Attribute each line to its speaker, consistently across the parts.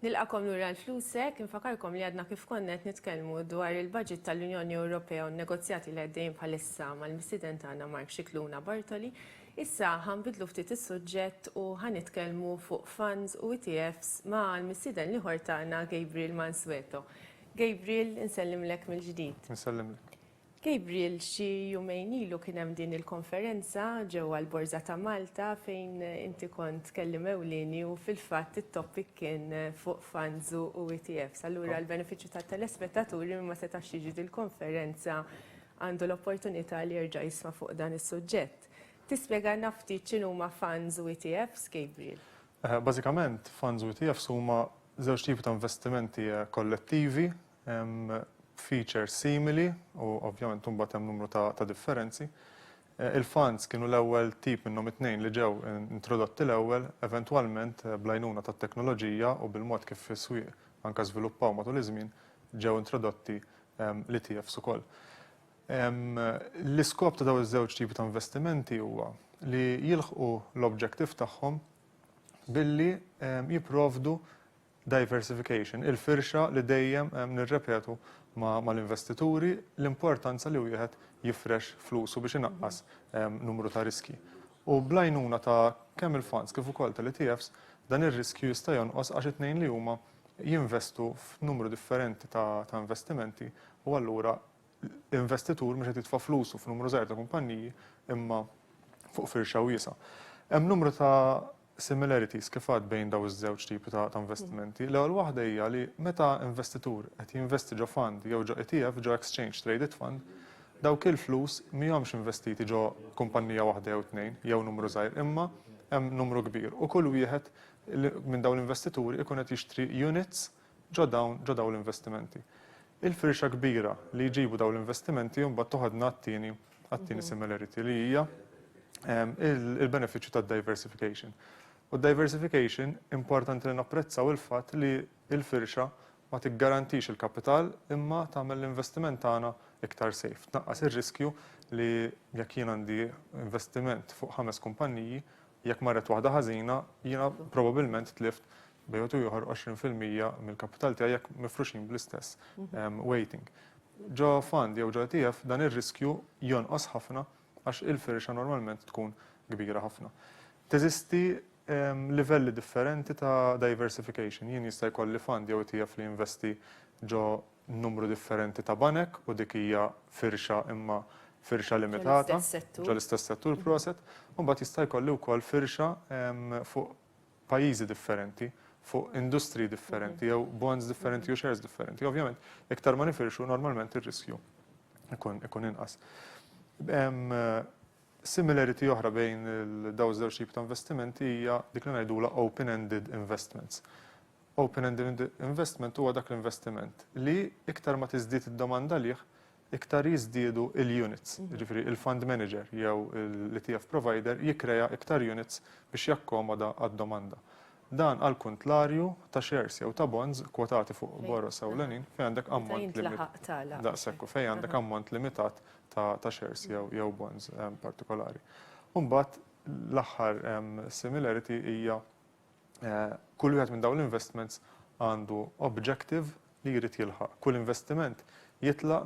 Speaker 1: Nilqakom lura għal flusek, infakarkom li għadna kif konna qed nitkellmu dwar il-budget tal-Unjoni Ewropea u n-negozjati li għaddejjin bħalissa mal-missieden tagħna Mark Scicluna Bartoli. Issa ħanbidlu ftit is-suġġett u ħanitkellmu fuq funds u ETFs ma' l-missieden l-ieħor tagħna Gabriel Mansueto. Gabriel, insellimlek mill-ġdid. Insellimlek.
Speaker 2: Gabriel,
Speaker 1: xi jumejn ilu kien hemm din il-konferenza ġewwa l-Borża ta' Malta fejn inti kont tkellim ewlieni u fil-fatt it-topic kien fuq funds u ETFs. Allura l-benefiċċju tat-telespettaturi min ma setax jiġi dil-konferenza għandu l-opportunità li jerġa' jisma' fuq dan is-suġġett. Tispjegalna ftit x'inhuma funds u ETFs, Gabriel? Bażikament,
Speaker 2: funds u ETFs huma żewġ tipi ta' investimenti kollettivi, hemm features simili u ovvjament imbagħad hemm numru ta' differenzi. Il-funds kienu l-ewwel tip minnhom it-tnejn li ġew introdotti l-ewwel, eventwalment bl-għajnuna tat-teknoloġija u bil-mod kif is-swieq anke żviluppaw matul iż-żmien, ġew introdotti l-ETFs ukoll. L-iskop ta' dawn iż-żewġ tipi ta' investimenti huwa li jilħqu l-objective tagħhom billi jipprovdu diversification, il-firxa li dejjem nirrepetu mal-investituri l-importanza li wieħed jifrex flusu biex inaqqas numru ta' riskji. U bl-għajnuna ta' kemm il-funds kif ukoll tal-ETFs, dan ir-riskju jista' jonqos għax it-tnejn li huma jinvestu f'numru differenti ta' investimenti u allura l-investitur mhux qed jitfa' flusu f'numru żgħir ta' kumpanniji imma fuq firxa wiesgħa. Hemm numru ta' similarities kif għad bejn dawn iż-żewġ tipi ta' investimenti. L-ewwel waħda hija li meta investitur qed jinvesti ġo fund jew ġo ETF, ġo exchange traded fund, dawk il-flus mhihomx investiti ġo kumpannija waħda jew tnejn jew numru żgħir imma hemm numru kbir u kull wieħed minn dawn l-investituri jkun qed jixtri units Ġo dawn, ġo dawn l-investimenti. Il-firxa kbira li jġibu dawn l-investimenti imbagħad toħodna għat-tieni, għat-tieni similarity li hija il-benefiċċju tad-diversification. U d-diversification importanti li napprezzaw il-fatt li l-firxa ma tiggarantix il-kapital imma tagħmel l-investiment tagħna iktar safe. Tnaqqas ir-riskju li jekk jien għandi investiment fuq ħames kumpanniji, Jekk marret waħda ħażina, jiena probabbilment tlift bejn wieħed u ieħor 20 fil-mija mill-kapital tiegħi jekk mifruxin bl-istess weighting. Ġo fund jew ġo ETF dan ir-riskju jonqos ħafna għax il-firxa normalment tkun kbira ħafna. Teżisti livelli differenti ta' diversification. Jien jista' jkolli fund jew ETF li jinvesti ġo numru differenti ta' banek u dik hija firxa imma firxa limitata ġol-istess settur, proset, u mbagħad jista' jkolli wkoll firxa fuq pajjiżi differenti, fuq industriji differenti jew bonds differenti jew shares differenti. Ovvjament, iktar ma nifirxu normalment ir-riskju jkun inqas. Similarity oħra bejn dawn iż-żewġ tip ta' investimenti hija dik li ngħidulha open-ended investments. Open-ended investment huwa dak l-investiment li iktar ma tiżdied id-domanda għalih, iktar jiżdiedu l-units. Jiġifieri il-fund manager jew l-ETF provider jikkrea iktar units biex jakkomoda għad-domanda. Dan għall-kuntlarju ta' shares jew ta' bonds kwotati fuq boroż ewlenin fejn għandek ammont limitat. Daqshekk u fejn għandek ammont limitat ta' shares jew bonds partikolari. U mbagħad l-aħħar similarity hija Kull wieħed minn dawn l-investments għandu objective li jrid jilħaq. Kull investiment jitlaq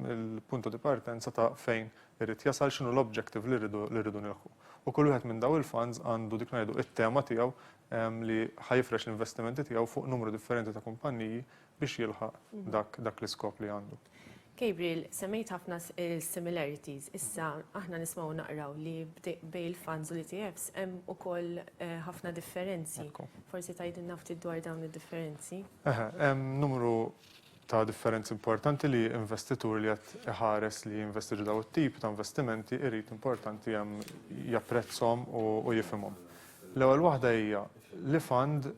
Speaker 2: mill-punto di partenza ta' fejn irid jasal, x'inhu l-objective li rridu li rridu nilħqu. U kull wieħed minn dawn il-funds għandu dik ngħidu it-tema tiegħu li ħa jifrex l-investimenti tiegħu fuq numru differenti ta' kumpanniji biex jilħaq dak dak l-iskop li għandu. Gabriel,
Speaker 1: semmejt ħafna similarities, issa aħna nismgħu naqraw li bejn il-funds u l-ETFs hemm ukoll ħafna differenzi. Forsi tgħidilna ftit dwar dawn id-differenzi? Eħe, hemm
Speaker 2: numru ta' differenzi importanti li investitur li qed iħares li jinvesti f'dawn it-tip ta' investimenti jrid importanti hemm japprezzhom u jifhimhom. L-ewwel waħda hija li fund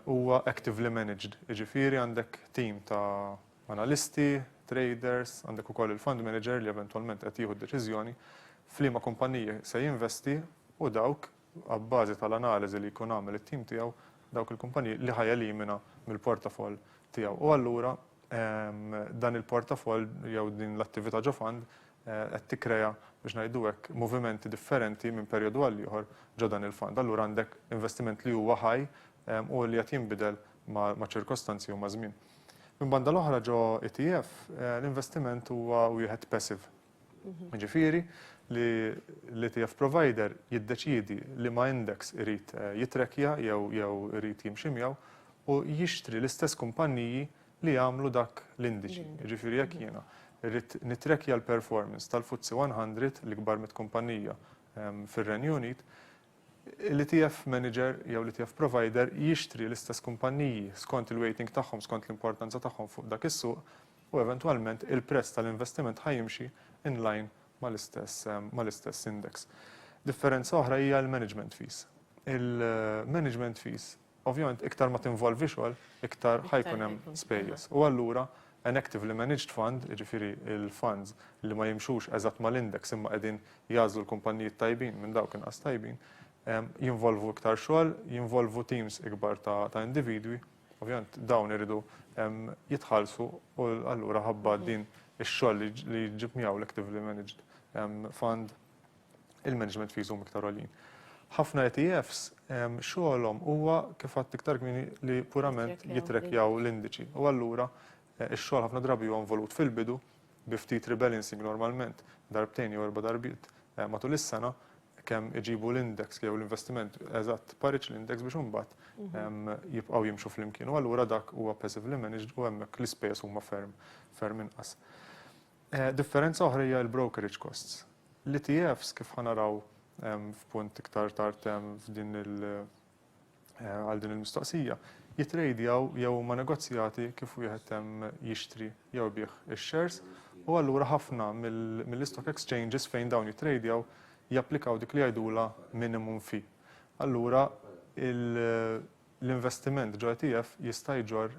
Speaker 2: huwa actively managed, jiġifieri għandek tim ta' analisti, traders, għandek ukoll il-fund manager li eventwalment qed jieħu d-deċiżjoni f'liema kumpanniji se jinvesti u dawk, abbażi tal-analiżi li jkun għamel it-tim tiegħu, dawk il-kumpanniji li ħa jelimina mill-portafoll tiegħu. U allura dan il-portafoll jew din l-attività ġo fund qed tikkrea, biex ngħidu hekk, movimenti differenti minn perjodu għal ieħor ġo dan il-fond. Allura għandek investiment li huwa ħaj u li qed jinbidel maċ-ċirkostanzi u maż-żmien. Minn banda l-oħra ġo ETF, l-investiment huwa wieħed passive. Jiġifieri li l-ETF provider jiddeċiedi liema index irid jittrackja jew irid jimxi miegħu u jixtri l-istess kumpanniji li jagħmlu dak l-indiċi. Jiġifieri jekk jiena rrid nittrackja l-performance tal-FTSE 100, l-ikbar mitt kumpannija fir-Renju Unit, l-ETF manager jew l-ETF provider jixtri l-istess kumpanniji skont il-weighting tagħhom, skont l-importanza tagħhom fuq dak is-suq, u eventwalment il-prezz tal-investiment ħa jimxi in line mal-istess index. Differenza oħra hija l-management fees. Il-management fees Ovvjament iktar ma tinvolvi xogħol, iktar ħa jkun hemm spejjeż. U allura an actively managed fund, jiġifieri l-funds li ma jimxux eżatt mal-index imma qegħdin jagħżlu l-kumpanniji t-tajbin minn dawk inqas tajbin, jinvolvu iktar xogħol, jinvolvu teams ikbar ta' individwi. Ovvjament dawn iridu jitħallsu u allura ħabba din ix-xogħol li jġib miegħu l-actively managed fund il-management fees huma iktar għoljin. Ħafna ETFs xogħolhom huwa kif għadt iktar kmieni li purament jitrekjaw l-indiċi. U allura ix-xogħol ħafna drabi huwa involut fil-bidu bi ftit rebalancing normalment darbtejn jew erba' darbiet matul is-sena kemm iġibu l-index jew l-investiment eżatt pariġġ l-index biex imbagħad mhm. jibqgħu jimxu flimkien. U allura dak huwa passively managed u hemmhekk l-ispejjeż huma ferm ferm inqas. Differenza oħra hija l-brokerage costs. L-ETFs, kif ħa naraw f'punt iktar tard f'din il-, għal din il-mistoqsija, jittrejdjaw jew huma negozjati kif wieħed jixtri jew ibigħ ix-shares u allura ħafna mill-istock exchanges fejn dawn jittrejdjaw japplikaw dik li jgħidulha minimum fee. Allura, L-investiment ġo ETF jista' jġorr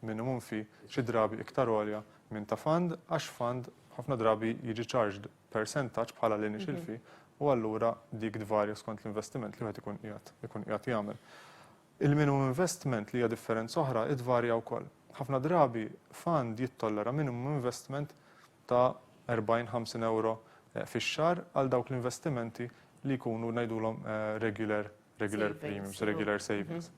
Speaker 2: minimum fee xi drabi iktar għolja minn ta' fund għax fund ħafna drabi jiġi charged persentaġġ bħala l-initial fee u allura dik tvarja skont l-investiment li wieħed ikun qiegħed ikun qiegħed jagħmel. Il-minimum investment li hija differenza oħra hi tvarja wkoll. Ħafna drabi fund jittollera minimum investment ta' 40, 50 ewro fix-xahar għal dawk l-investimenti li jkunu ngħidulhom regular Regular premiums, regular savings.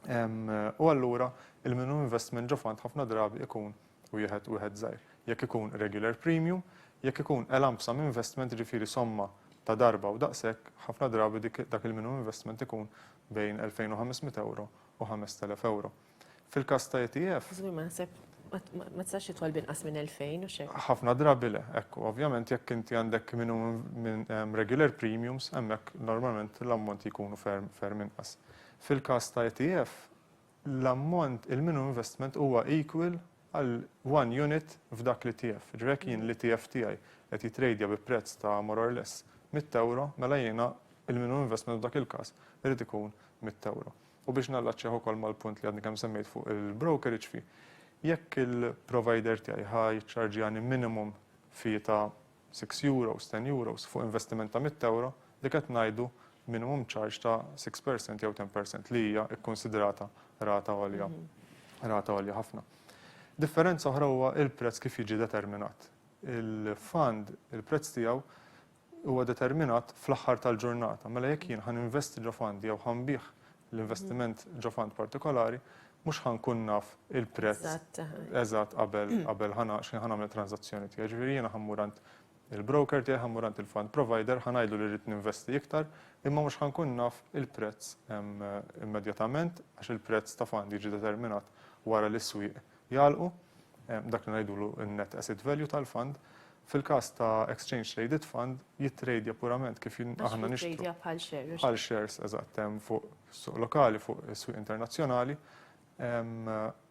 Speaker 2: U allura il-minimum investment ġo fund ħafna drabi ikun wieħed wieħed żgħir. Jekk ikun regular premium, jekk ikun a lump sum investment ġifieri somma ta' darba u daqshekk, ħafna drabi dik dak il-minimum investment ikun bejn 2,500 euro u 5,000 euro. Fil-każ ta' ETF. Żgur ma naħseb
Speaker 1: ma tistax titwal binqas minn 2000 u x'hekk. Ħafna drabi le,
Speaker 2: ekku. Ovvjament jekk inti għandek minimum regular premiums hemmhekk normalment l-ammonti jkunu ferm ferm inqas. Fil-każ ta' ETF l-ammont il-minimum investment huwa equal għal one unit f'dak l-ETF. Ġifieri jekk jien l-ETF tiegħi qed jitrejdja bi prezz ta' more or less mitt ewro, mela jiena il-minimum investment f'dak il-każ irid ikun mitt ewro. U biex nallaċċjah ukoll mal-punt li għadni kemm semmejt fuq il-brokerage fee, jekk il-provider tiegħi ħa jiċċarġjani minimum fee ta' six euros, ten euros fuq investiment ta' mitt ewro, dik qed ngħidu minimum charge ta' six per cent jew ten per cent li hija kkunsidrata rata għolja, rata għolja ħafna. Differenza oħra huwa l-prezz kif jiġi determinat. Il-fund, il-prezz tiegħu huwa determinat fl-aħħar tal-ġurnata. Mela jekk jien ħa ninvesti ġo fund jew ħa nbigħ l-investiment ġo fund partikolari, mhux ħa nkun naf il-prezz eżatt qabel qabel ħa x'ħin ħa nagħmel it-tranżazzjoni tiegħi. Ġifieri jiena ħa mmur għand il-broker tiegħi, ħa mmur għand il-fund provider, ħa ngħidlu li rrid ninvesti iktar, imma mhux ħa nkun naf il-prezz immedjatament għax il-prezz ta' fund jiġi determinat wara li s-swieq jagħlqu, dak li ngħidulu n-net asset value tal-fund, fil-każ ta' exchange traded fund jittrejdja purament kif aħna nixtru. Għax jittrejdja bħal shares. Bħal shares, eżatt, fuq is-suq lokali, fuq is-swieq internazzjonali.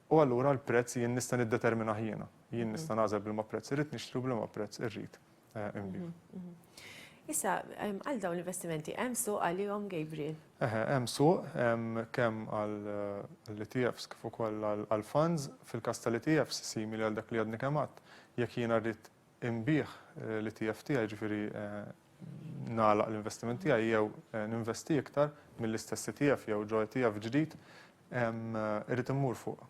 Speaker 2: U allura l-prezz jien nista' niddeterminah jiena. Jien nista' nagħżel b'liema prezz irrid nixtri u b'liema prezz irrid
Speaker 1: Issa, għal dawn l-investimenti, hemm suq għalihom Gabriel? Eħe, hemm suq,
Speaker 2: hemm kemm għall-ETFs kif ukoll għall-funds, fil-każ tal-ETFs simili għal dak li għadni kemm għedt, jekk jiena rrid inbigħ l-ETF tiegħi, jiġifieri nagħlaq l-investiment tiegħi jew ninvesti iktar mill-istess ETF jew ġo ETF ġdid, irrid immur fuq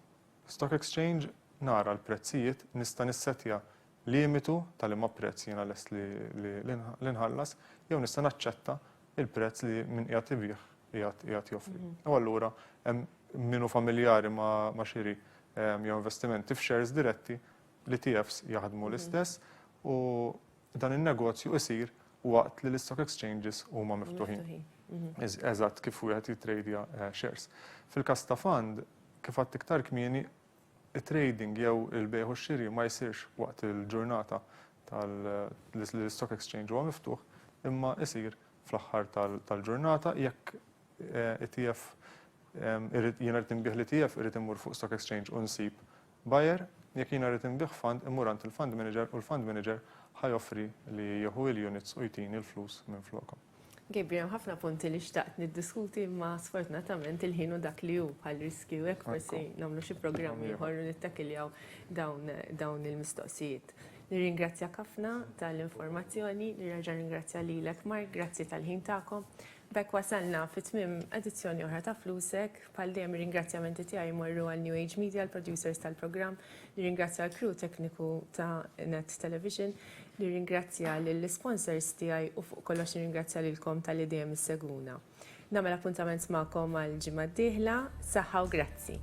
Speaker 2: stock exchange, nara l-prezzijiet, nista' nissettja limitu ta' liema prezz jiena lest li nħallas jew nista' naċċetta l-prezz li min qiegħed ibigħ qiegħed joffri. U allura hemm min hu familjari ma' xiri jew investimenti f'shares diretti, l-ETFs jaħdmu l-istess u dan in-negozju jsir waqt li l-istock exchanges huma miftuħin. Eżatt kif wieħed jittrejdja shares. Fil-każ ta' fund, kif għedt iktar kmieni, It-trading jew il-bejgħ u x-xiri ma jsirx waqt il-ġurnata li l-Stock Exchange huwa miftuħ imma jsir fl-aħħar tal-ġurnata jekk ETF irrid, jiena rrid inbigħ l-ETF irrid immur fuq Stock Exchange u nsib buyer, jekk jiena rrid inbigħ fund immur għand il-fund manager u l-fund manager ħa joffri li jieħu l-units u jtini l-flus minflokhom. Gabriel, hemm ħafna
Speaker 1: punti li xtaqt niddiskuti ma sfortunatament il-ħin u dak li hu bħal riskju hekk forsi nagħmlu xi programm ieħor u nittakiljaw dawn il-mistoqsijiet. Nirringrazzjak ħafna tal-informazzjoni, nirraġa' ringrazzja lilek Mark, grazzi tal-ħin tagħkom. B'hekk wasalna fi tmiem edizzjoni oħra ta' Flusek. Bħal dejjem ir-ringrazzjamenti tiegħi jmorru għal New Age Media, l-producers tal-programm, nirringrazzja l-crew tekniku ta' Net Television, nirringrazzja lill-isponsors tiegħi u fuq kollox nirringrazzja lilkom talli dejjem issegwuna. Nagħmel appuntament magħkom għall-ġimgħa d-dieħla, saħħa u grazzi!